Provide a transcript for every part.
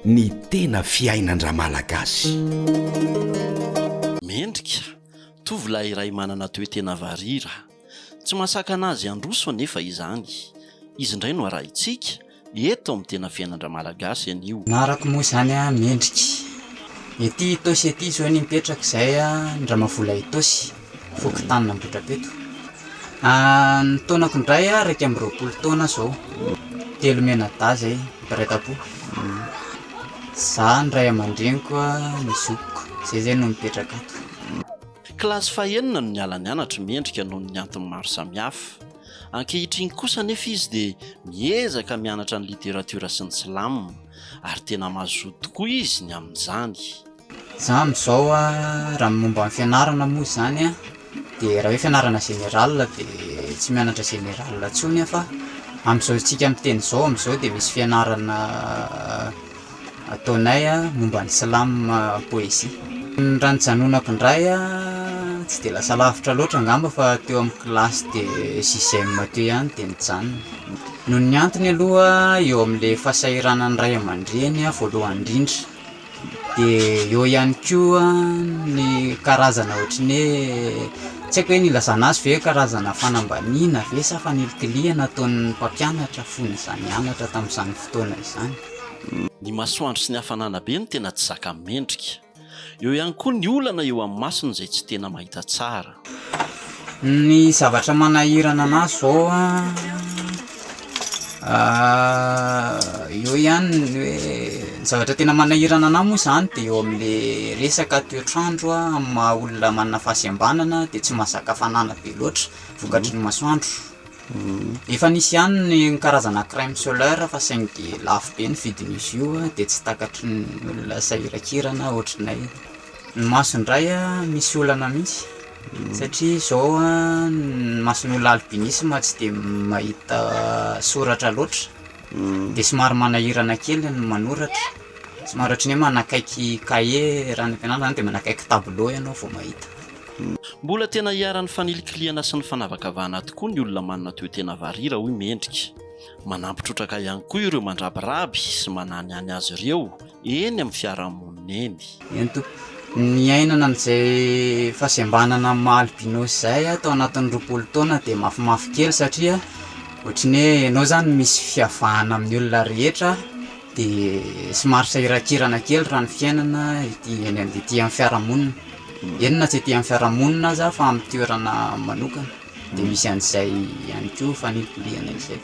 Ny tena fiainan-dRamalagasy. Mendrika, tovolahy iray manana toe-tena varira. Tsy mahasakana azy handroso anefa izany. Izy indray no arahintsika, eto amin'ny tena fiainan-dRamalagasy anio. Na arako moa izany mendrika. Ety Itaosy ety izao ny mipetraka izahay an, Ndramavola Itaosy. fokontany Ambohidrapeto. Ny taonako indray iraika amby roapolo taona izao, telo mianadahy izay mpiray tampo, izaho, ny ray aman-dreniko, ny zokiko, izay izay no mipetraka ato. Kilasy fahenina no niala nianatra mendrika noho ny antony maro samihafa. Ankehitriny kosa anefa izy dia miezaka mianatra ny literatiora sy ny silamo ary tena mazoto tokoa izy ny amin'izany. Za amin'izao raha ny momba ny fianarana moa izany dia raha hoe fianarana général dia tsy mianatra général intsony aho fa amin'izao isika miteny izao amin'izao dia misy fianarana ataonay momba ny slam poésie. Raha nijanonako indray tsy dia lasa lavitra loatra angamba fa teo amin'ny kilasy de sixième teo ihany dia nijanona. Noho ny antony aloha eo amin'ilay fahasahiranan'ny ray aman-dreny voalohany indrindra. dia eo ihany koa ny karazana ohatry ny hoe tsy haiko hoe ny ilazana azy ve hoe karazana fanambaniana ve sa fanilikilihana ataon'ny mpampianatra fony izy nianatra tamin'izany fotoana izany. Ny masoandro sy ny hafanana be no tena tsy zaka mendrika. Eo ihany koa ny olana eo amin'ny masony izay tsy tena mahita tsara. Ny zavatra manahirana anà zao eo ihany ny hoe ny zavatra tena manahirana anà moa zany de eo am'le resaka toetr'andro amin'ny maha olona manana fahasembanana de tsy mahazaka hafanana be loatra vokatry ny masoandro, efa nisy ihany ny karazana crème solaire fa saingy de lafo be ny vidin'izy io de tsy takatry ny olona sahiran-kirana ohatry ny ahy. Ny maso indray misy olana mihitsy satria izao ny mason'olona albinisme tsy dia mahita soratra loatra dia somary manahirana kely ny manoratra, somary ohatran'ny hoe manakaiky cahier raha any am-pianarana izany dia manakaiky tableau ianao vao mahita. Mbola tena iharan'ny fanilikilihana sy ny fanavakavahana tokoa ny olona manana toe-tena varira, hoy Mendrika. Manampy trotraka ihany koa ireo mandrabiraby sy mananihany azy ireo eny amin'ny fiarahamonina eny. Eny tompoko. Niainana an'izay fahasembanana amin'ny maha albinos izay aho tao anatin'ny roapolo taona dia mafimafy kely satria ohatry ny hoe ianao izany misy fiavahana amin'ny olona rehetra dia somary sahirankirana kely raha ny fiainana ety eny amin'ny ety amin'ny fiarahamonina. Eny na tsy ety amin'ny fiarahamonina aza fa amin'ny toerana manokana. Dia misy an'izay ihany koa faniporiana izay.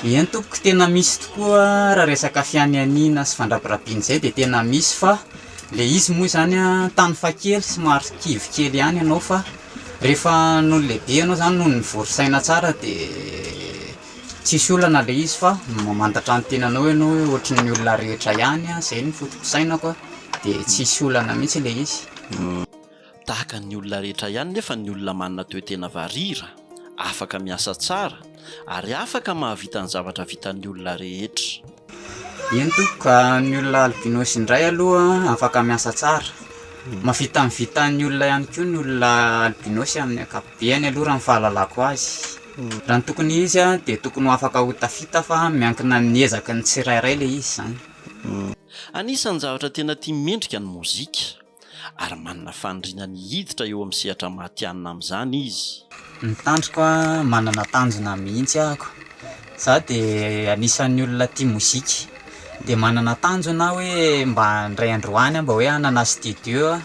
Eny tompoko tena misy tokoa raha resaka fianianiana sy fandrabirabiana izay dia tena misy fa ilay izy moa izany tany faha kely somary kivy kely ihany ianao fa rehefa nony lehibe ianao izany nony nivory saina tsara dia tsisy olana ilay izy fa mamantatra ny tenanao ianao hoe ohatry ny olona rehetra ihany izay ny fotopisainako dia tsisy olana mihintsy ilay izy Tahaka ny olona rehetra ihany nefa ny olona manana toe-tena varira, afaka miasa tsara ary afaka mahavita ny zavatra vitan'ny olona rehetra. Eny tompoko, ny olona albinos indray aloha afaka miasa tsara. Mahavita ny vitan'ny olona ihany koa ny olona albinos amin'ny ankapobeny aloha raha ny fahalalako azy. Raha ny tokony ho izy dia tokony ho afaka ho tafita fa miankina amin'ny ezaky ny tsirairay ilay izy izany. Anisan'ny zavatra tena tia mendrika ny mozika. ary manana faniriana ny hiditra eo amin'ny sehatra matihanina amin'izany izy. Ny tandroko manana tanjona mihitsy ahako, za de anisan'ny olona tia mozika de manana tanjona aho hoe mba indray andro any aho mba hoe hanana studio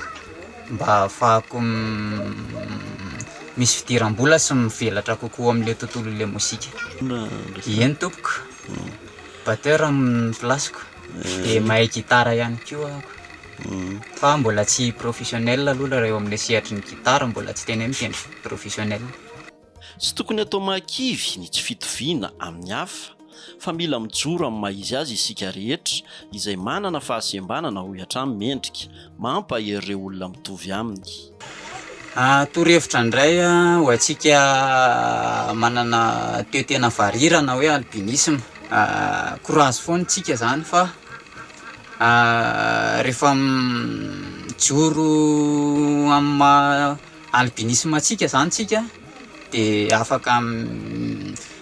mba hahafahako misy fidiram-bola sy mivelatra kokoa amin'ilay tontolon'ilay mozika. Eny tompoko, batteur amin'ny place-ko, dia mahay gitara ihany koa ahako. Fa mbola tsy professionnel aloha ilay eo amin'ny sehatry ny gitara, mbola tsy tena hoe mitendry professionnel. Tsy tokony atao mahakivy ny tsy fitoviana amin'ny hafa, fa mila mijoro amin'ny maha izy azy isika rehetra izay manana fahasembanana, hoy hatrany Mendrika, mampahery ireo olona mitovy aminy. Torohevitra indray ho antsika manana toe-tena varirana hoe albinisme, courage foana isika izany fa. Rehefa mijoro amin'ny maha albinisma antsika izany isika dia afaka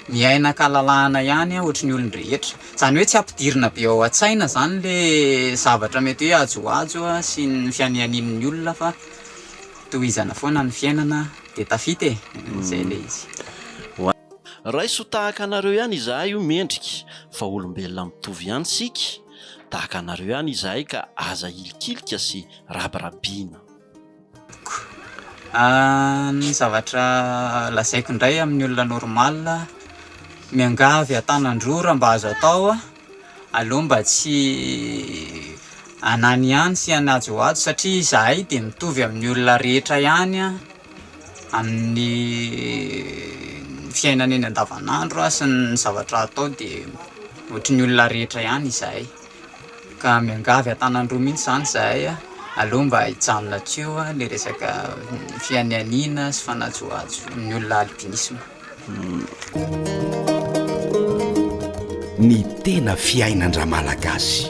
miaina an-kalalahana ihany ohatry ny olon-drehetra. Izany hoe tsy ampidirina be ao an-tsaina izany ilay zavatra mety hoe ajoajo sy ny fianianian'ny olona fa tohizana foana ny fiainana dia tafita e, izay ilay izy. Raiso tahaka anareo ihany izahay o Mendrika fa olombelona mitovy ihany isika Tahaka anareo ihany izahay ka aza ilikilika sy rabirabiana. Ko. Ny zavatra lazaiko indray amin'ny olona normal, miangavy an-tanan-drora mba azo atao Aleo mba tsy anany ihany sy anajohajo satria izahay dia mitovy amin'ny olona rehetra ihany amin'ny fiainana eny andavan'andro sy ny zavatra atao dia ohatry ny olona rehetra ihany izahay ka miangavy an-tanan-droa mihintsy izany izahay aleo mba hijanona tsy eo ilay resaka fianianiana sy fanajohajo ny olona albinisma. Ny tena fiainan-dRamalagasy.